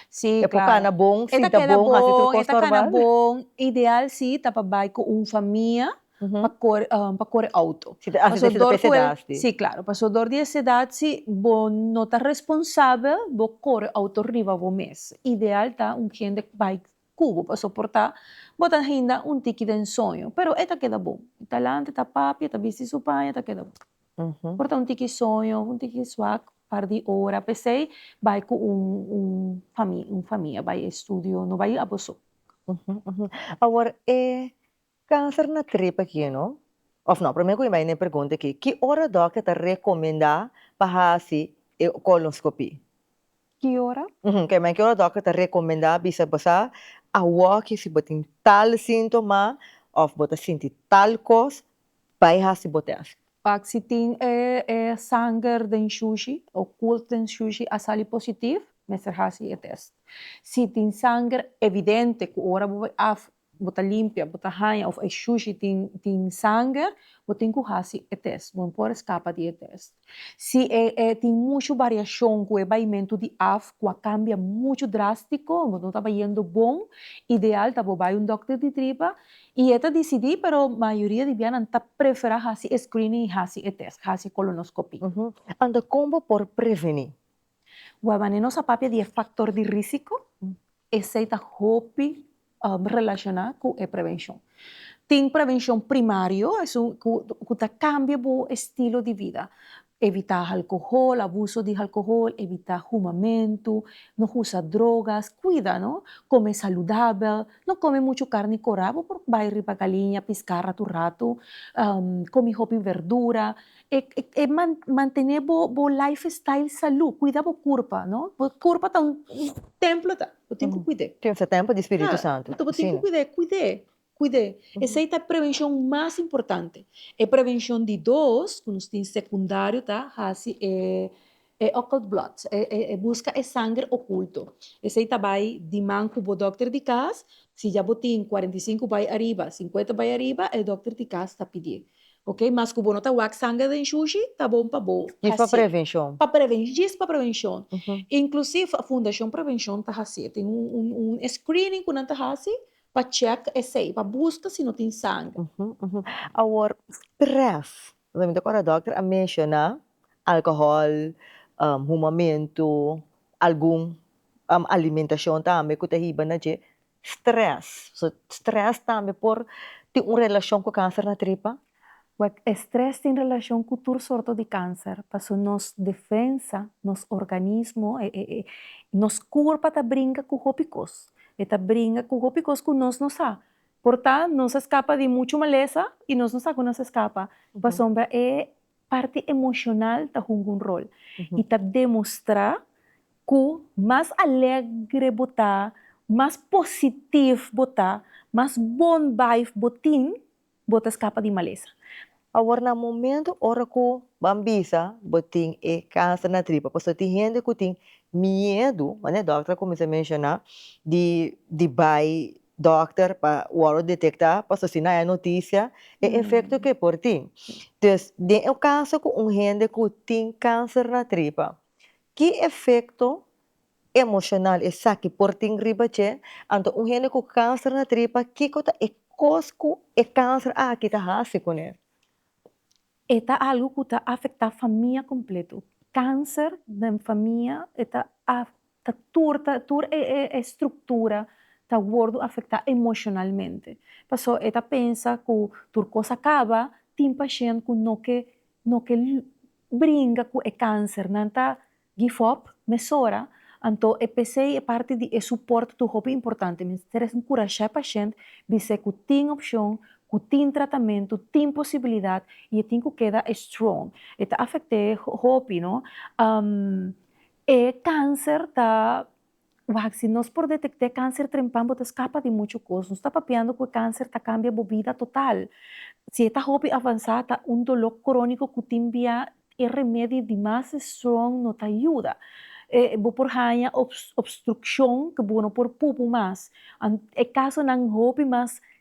Si, claro. E por cana bon, sinta bon, hasi tur cos normal. E ta keda bon, e ta cana bon. Ideal si ta pa bai cu un famia pa core, pa core auto. Si ta hasi esei ta pa es edad si. Si, claro. Paso dor di es edad si bo no ta responsabel bo core auto riba bo mes. Ideal ta un hende cu bai cu bo pa soporta bo ta hinda un tiki den soño. Pero e ta keda bon. E ta lanta, e ta papia, e ta bisti su paña, e ta keda bon. Por ta un tiki soño, un tiki suak, par di ora. P'esei bai ku un un famia, un famia bai e studio, no bai abo so. Awor e kanser na trip aki no, òf nò, promé ku mi bai na e pregunta aki, ki ora dòkter ta rekomendá pa hasi e kolonoskopí? Ki ora? Kema e ora dòkter ta rekomendá bisa bosa awòkje si bo tin tal síntoma òf bo ta sinti tal kos, bai hasi bo tèst. Pak si tin e e sanger den shushi o kools den shushi a sali positif, mester hasi e tèst. Si tin sanger evidente ku ora bo bai af bo ta limpia, bo ta haña of e shushi tin tin sanger, bo tin ku hasi e test, bo no por eskapa di e test. Si e e tin mushu bariashon ku e baimentu di af ku a kambia muchu drastiko, bo no ta bayendo bon, ideal ta bo bai un dòkter di tripa i e ta disidí, pero mayoria di bianan ta preferá hasi e screening i hasi e test, hasi e kolonoskopí. Anda kon bo por prevení? Wèl, wanneer nos a papia di e faktor di risiko, esei ta hopi relacioná cu e prevencion. Tin prevencion primario, esun cu ta cambia bo estilo di vida, evitá alcohol, abuso di alcohol, evitá humamentu, no usa drogas, cuida no, come saludabel, no come muchu carni corá, bo por bai riba galiña piscá ratu ratu, comi hopi verdura, e mantené bo life style salú, cuida bo curpa no, bo curpa ta un templo ta. Bo tin ku kuid'é. Tin se tempu di Spiritu Santu. Bo tin ku kuid'é, kuid'é, kuid'é. Esei ta e prevenshon mas importante. E prevenshon di dos ku nos tin sekundario ta hasi e e occult blood, e buska e sanger okulto. Esei ta bai di man ku bo dòkter di kas, si ya bo tin kuarenta i sinku bai ariba, sinkuenta bai ariba, e dòkter di kas ta pidié. Ok, mas ku bo no ta wak sanger den shushi, ta bon pa bo hasié. Djis pa prevenshon. Pa preven, djis pa prevenshon. Inklusiv Fundashon Prevenshon ta hasié, tin un e screening ku nan ta hasi pa check esei, pa buska si no tin sanger. Awor, stress, mi ta kòrda dòkter a menshoná alkohòl, humamentu, algun alimentashon tambe ku ta hiba na dje, Stress, so stress tambe por tin un relacion cu cancer na tripa? Wak, e stress tin relacion cu tur sorto di cancer, paso nos defensa, nos organismo, nos curpa ta bringa cu hopi cos, e ta bringa cu hopi cos cu nos no sa, por ta nos a scapa di mucho malesa y nos no sa cu nos a scapa, pasobra e parti emocional ta hunga un rol y ta demostra Ku mas alegre bo ta, mas positif bo ta, mas bon vibe bo tin, bo ta skapa di malesa. Awor na momento ora ku ban bisa bo tin e kanser na tripa, pasobra tin hende ku tin miedu, manera e dòkter a kuminsá menshoná, di di bai dòkter pa wòrdu detektá, pasobra si no haya notisia e efekto ku e por tin. Den un kaso ku un hende ku tin kanser na tripa, Ki efekto emoshonal esaki por tin riba dje? Anto un hende ku kanser na tripa, kiko ta e kos ku e kanser aki ta hasi ku ne? E ta algu ku ta afektá famia kompletu. Kanser den famia e ta ta tur ta tur e e e struktura ta wòrdu afektá emoshonalmente. Pasó e ta pensa ku tur kos a kaba, tin pashent ku no ke No ke bringa ku e kanser, nan ta give up mesora, anto e pesei e parti di e suport tur hopi importante. Mester es enkurashá e pashent bis'é ku tin opshon, ku tin tratamentu, tin posibilidat i e tin ku keda strong. E ta afekt'é hopi, no. E kanser ta Wak, si nos por detekt'é kanser trempan bo ta skapa di muchu kos. Nos ta papiando ku e kanser ta kambia bo bida total. Si e ta hopi avansá ta un doló króniko ku tin bia e remedi di mas strong no ta yuda. Bo por haña obstrukshon ku bo no por pupu mas. E kasonan hopi mas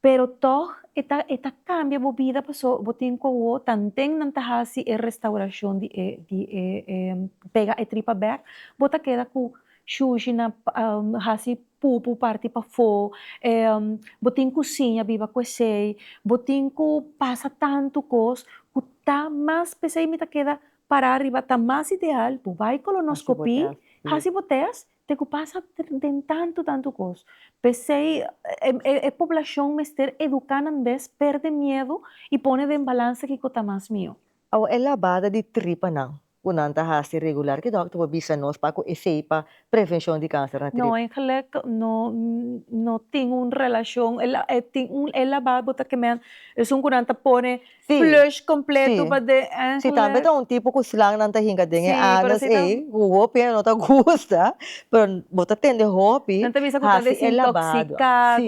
Pero tog e ta e ta cambia bo bida paso bo tin cu awo tanten nan ta haci e restauracion di e di e pega e tripa bek bo ta keda cu shushi na haci pupu parti pafo bo tin cu siña biba cu esey bo tin cu pasa tanto cos cu ta mas pesey mi ta keda para riba ta mas ideal bo bay colonoscopy haci bo test Te ku pasa den tantu tantu kos. P'esei e poblashon mester eduká nan bes pèrdè miedu i pone den balansa kiko ta mas mihó. Awa e labada di tripanan ku nan ta hasi regular, ki dòkter por bisa nos pa ku efei pa prevenshon di kanser na tripa? No, en geluk no, no tin un relashon. E tin un, e labada bo ta kemènt, esun ku nan ta pone flush kompletu pa den èn. Si tambe ta un tipo ku slangnan ta hinka den e anus ei ku hopi hende no ta gusta pero bo ta tende hopi hasi e labado si.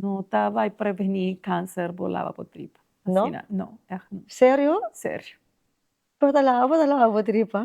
No ta bai preveni kanser bo laba bo tripa asina no èhn. Serio? Serio. Pero ta laba bo ta laba bo tripa?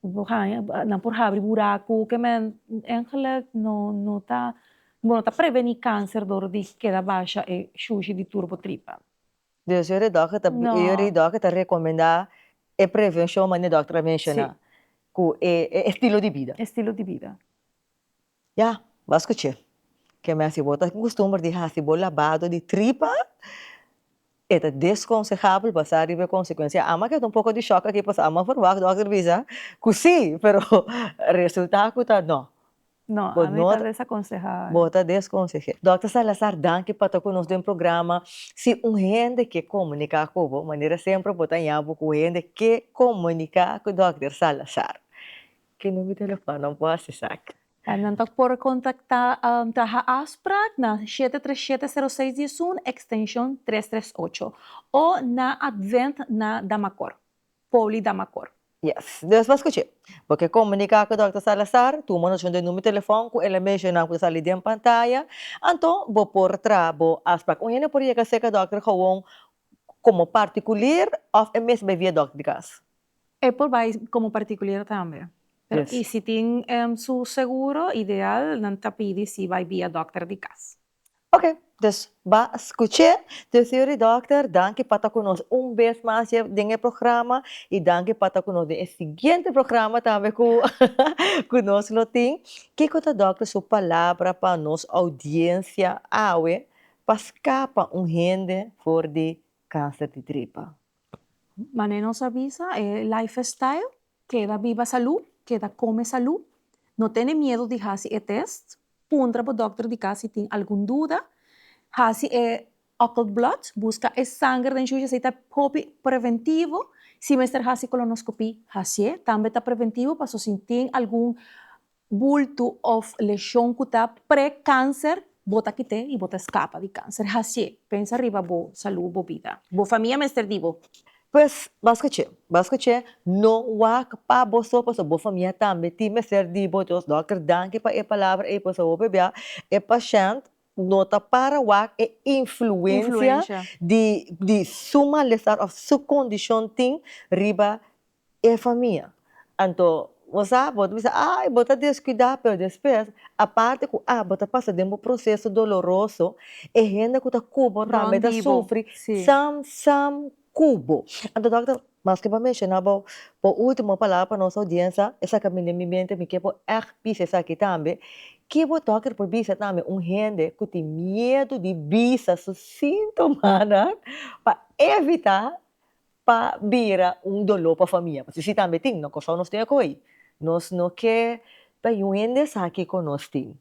Bo haña nan por habri buraku ke men engelek no no ta bo no ta preveni kanser dor di keda basha e shushi di tur bo tripa. Dus yori dòkter ta No. yori dòkter ta rekomendá e prevenshon manera e dòkter a menshoná Si. ku e estilo di bida. Estilo di bida. Ya, b'as kuch'é. Ke mester bo ta akustumber di hasi bo labado di tripa, e ta deskonsejabel basá riba e konsekuensia. Ama ke ta un poko di shòk aki pasobra ama verwagt dòkter bisa ku sí, pero resultá ku ta nò. Nò, a mi ta desakonsehá. Bo ta deskonseh'é. Dòkter Salazar, danki pa ta ku nos den programa. Si un hende ke komuniká ku bo, manera semper bo ta ña bo ku hende ke komuniká ku dòkter Salazar. Ki number telefòn nan por hasi saki? Nan ta por kontaktá ta ha'a afsprak na shete tres shete sero seis dies un ekstenshon tres tres ocho o na Advent na Damacor, Poly Damacor. Yes. Nos por skuch'é. Bo ke komuniká ku Dòkter Salazar, tuma notashon den number telefòn ku el a menshoná ku ta sali den pantaya, anto bo por traha bo afsprak. Un hende por yega seka Dòkter Gowon komo partikuler òf e mester bai via dòkter di kas? E por bai komo partikuler tambe. Pero i si tin su seguro, ideal nan ta pidi si bai via dòkter di kas. Ok, dus ba skuch'é. Te señor di dòkter, danki pa ta ku nos un bes mas dje den e programa i danki pa ta ku nos den e siguiente programa tambe ku ku nos lo tin. Kiko ta dòkter su palabra pa nos oudiensia awe Pa scapa un hende for di cancer di tripa. Mane nos a bisa e life style, keda biba salu, keda come salu, no tene miedo di hasi e test, puntra bo dokter di cas si tin algun duda, hasi e occult blood, busca e sanger den shushi asey ta hopi preventivo, si mester hasi colonoscopy, hasié, tambe ta preventivo paso si tin algun bultu òf leshon ku ta pre-kanser, bo ta kit'é i bo ta skapa di kanser. Hasié, pensa riba bo salú, bo bida. Bo famia mester di bo. Pues, Bas Kach'é, Bas Kach'é, no wak pa bo so, pasobra bo famia tambe tin mester di bo. Dios Dòkter, danki pa e palabra ei, pasobra bo pebia e pashènt no ta para wak e influensia di su malestar òf su kondishon tin riba e famia. Anto bo sa bo ta bisa ay bo ta deskuidá pero despues aparte ku a bo ta pasa den bo proseso doloroso e hende ku ta ku bo tambe ta sufri sam sam ku bo. Anto dòkter maske bo a menshoná bo bo ultimo palabra pa nos oudiensia e sa kaminda den mi mente mi ke bo ègt bisa esaki tambe ke bo dòkter por bisa tambe un hende ku tin miedu di bisa su sintomanan pa evitá pa bira un doló pa famia, pasobra si tambe tin, no kosao nos tin a koi. Nos no ke ta yu hende esaki ku nos tin.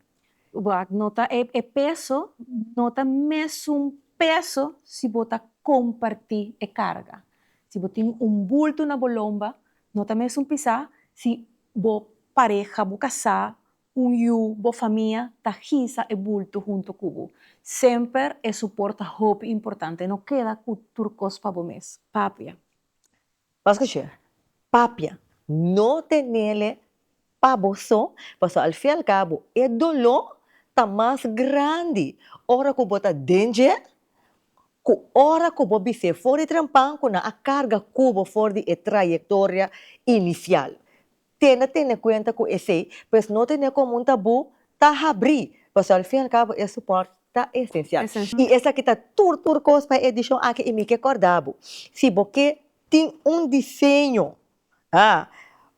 Wak no ta e e peso no ta mes un peso si bo ta komparti e karga. Si bo tin un bultu na bo lomba no ta mes un pisá si bo pareha bo kasá Un yu bo famia ta hisa e bulto hunto ku bo. Semper e suport ta hopi importante. No keda ku tur kos pa bo mes. Papia. Paske che papia no tenele pa bo so, paso al fin al kabo e doló ta mas grandi ora ku bo ta den dje ku ora ku bo bis'é for di trampán ku nan a karga ku bo for di e trayektoria inisial. Tene tene cuenta cu esey, pues no tene como un tabú, ta habrí, pasobra al fin y al cabo e support ta esencial. Y esaki ta tur tur cos pa e edicion aki y mi ke corda bo, si bo ke tin un diseño, ha,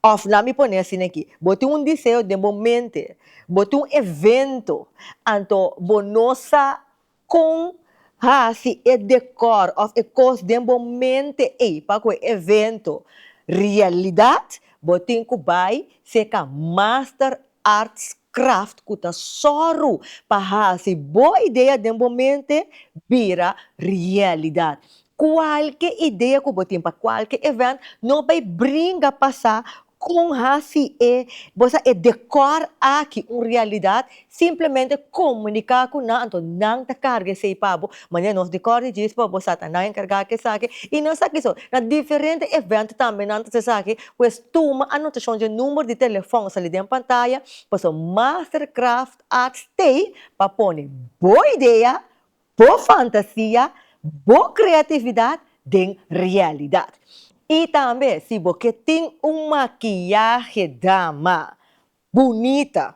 of laat mi pone asina aki, bo tin un diseño den bo mente, bo tin un evento, anto bo no sa Kon hasi e dekor of e kos den bo mente ei pa ku e evento realidat? Bo tin ku bai seka master arts craft ku ta sòru pa hasi bo idea den bo mente bira realidat. Cualke idea cu bo tin pa cualke event, no bay bringa pasa con haci e, bo sa, e decor aki un realidad, simplemente comunica cu nan, anto nan ta carga esey pa bo, manera nos decor di djis bo sa ta nan encarga cu esaki, y no es aki so, na diferente event tambe nan ta haci esaki, pues tuma anotacion dje number di telefon a sali den pantaya, pasobra Mastercraft Art stay pa pone bo idea bo fantasia, bo kreatividat den realidat. I tambe si bo ke tin un makiyahe dama bunita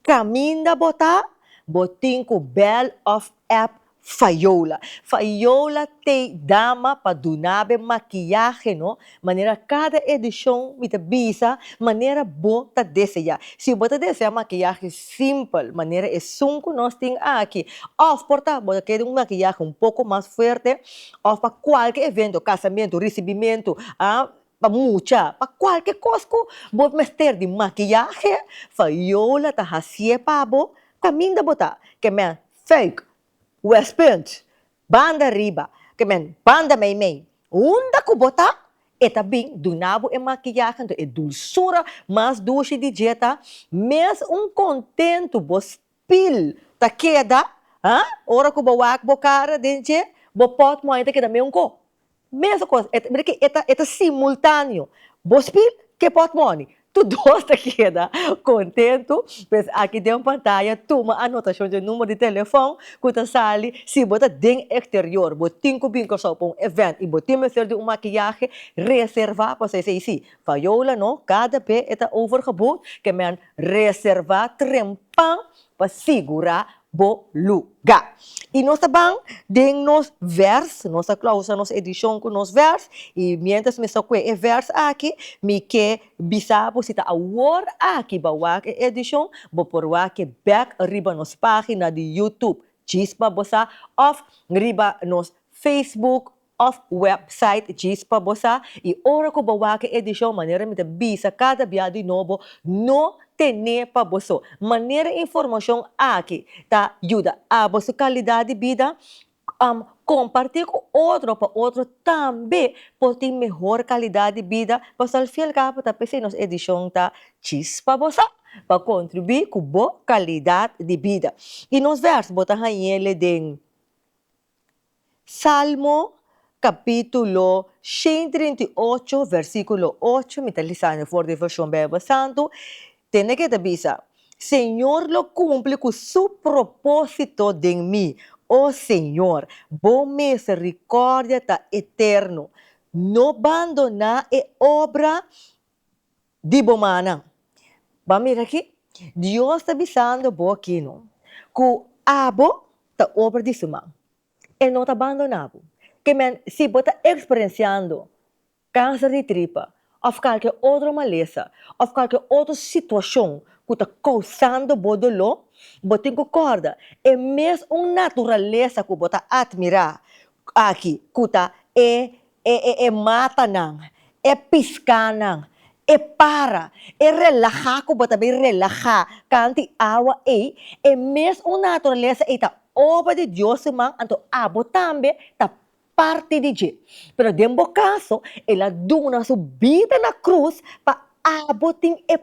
kaminda bo ta, bo tin ku bèl òf èp Fayola. Fayola tei dama pa dunabe makiyahe no Manera cada edicion mi ta bisa manera bo ta desea. Si bo ta desea un maquillaje simpel manera esun cu nos tin aki, of por ta bo ta kere un maquillaje un poco mas fuerte, of pa cualke evento, casamento, ricibimento, ah, pa mucha, pa cualke cos cu bo mester di maquillaje, Fayola ta hacie pa bo, caminda bo ta, ke men, fake, West Punt, Banda riba, ke men, Banda Meimei, Unda ku bo ta? E ta bin duna bo e makiyahe, nto e dulsura mas dushi di dje ta mes un kontentu, bo spil ta keda, ha? Ora ku bo wak bo kara den dje, bo pòt moña ta keda meunko, Mesmo cos, e ta, mira que e ta, e ta simultaneo. Bo spil, ke pot moni. Tu dos ta keda contento. Pues aki den pantaya tuma anotacion dje numero di telefon cu ta sali si bo ta den exterior, bo tin cu bin Curaçao pa un event y bo tin mester di un maquillahe, reserva pasobra esey si. Viola no, cada be e ta overgeboekt, ke men reserva trempan pa sigura bo luga. I nos ta ban den nos vers, nos ta klausa nos edishon ku nos vers, i miéntras mi sta kue e vers aki, mi ke bisa bo si ta awor aki bo a wak e edishon, bo por wak e bèk riba nos página di YouTube, Chispa Bosá, òf riba nos Facebook Of website djis pa bo sa y ora cu bo wak e edicion manera mi ta bisa cada bia di nobo no tene pa bo so manera informacion aki ta yuda abo su calidad di bida am comparti cu otro pa otro tambe por tin mehor calidad di bida pasobra al fin al cabo ta p'esey nos edicion ta djis pa bo sa pa contribui cu bo calidad di bida y nos verso bo ta hañele den. Salmo capítulo shen y trinta y ocho versículo ocho, mi ta lisando for di version Bijbel Santo, tene ke ta bisa, Señor lo cumpli cu su propósito den mi, o Señor, bo misericordia ta eterno, no bandoná e obra di bo mannan. Ban mira aki, Dios ta bisando bo aki no, cu abo ta obra di su man. E no ta bandona bo. Kemen si bo ta experenciando cancer di tripa of calke otro malesa of calke otro situacion cu ta causando bo dolor, bo tin cu corda, e mes un naturalesa cu bo ta admira aki cu ta e E e e mata nan, e piská nan, e para, e relahá ku bo ta bin relahá kanti awa ei, e mes un naturalesa ei ta obra di Dios su man, anto abo tambe ta parti di dje. Pero den bo kaso, el a duna su bida na krus pa abo tin e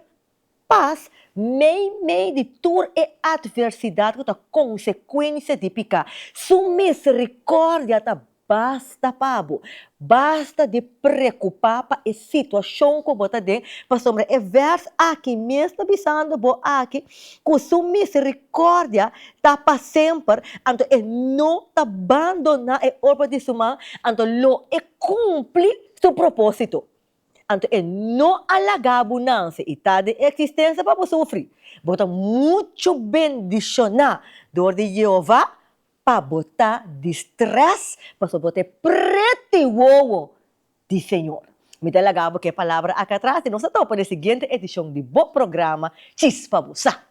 Pas mei mei di tur e atversidat ku ta konsekuensia di piká. Su miserikordia ta basta pa bo. Basta di preokupá pa e situashon ku bo ta den, pasobra e vèrs aki mes ta bisando bo aki ku su miserikordia ta pa semper, anto e no ta bandoná e obra di su man, anto lo e kumpli su propósito. Anto e no a laga bu nanse i ta den e eksistensia pa bo sufri. Bo ta muchu bendishoná dor di Yehova pa bo ta di strès pasobra bo ta e prete wowo di Señor. Mi ta laga bo k'e palabra aki atras i nos ta topa den e siguiente edishon di bo programa Chis pa bo sa.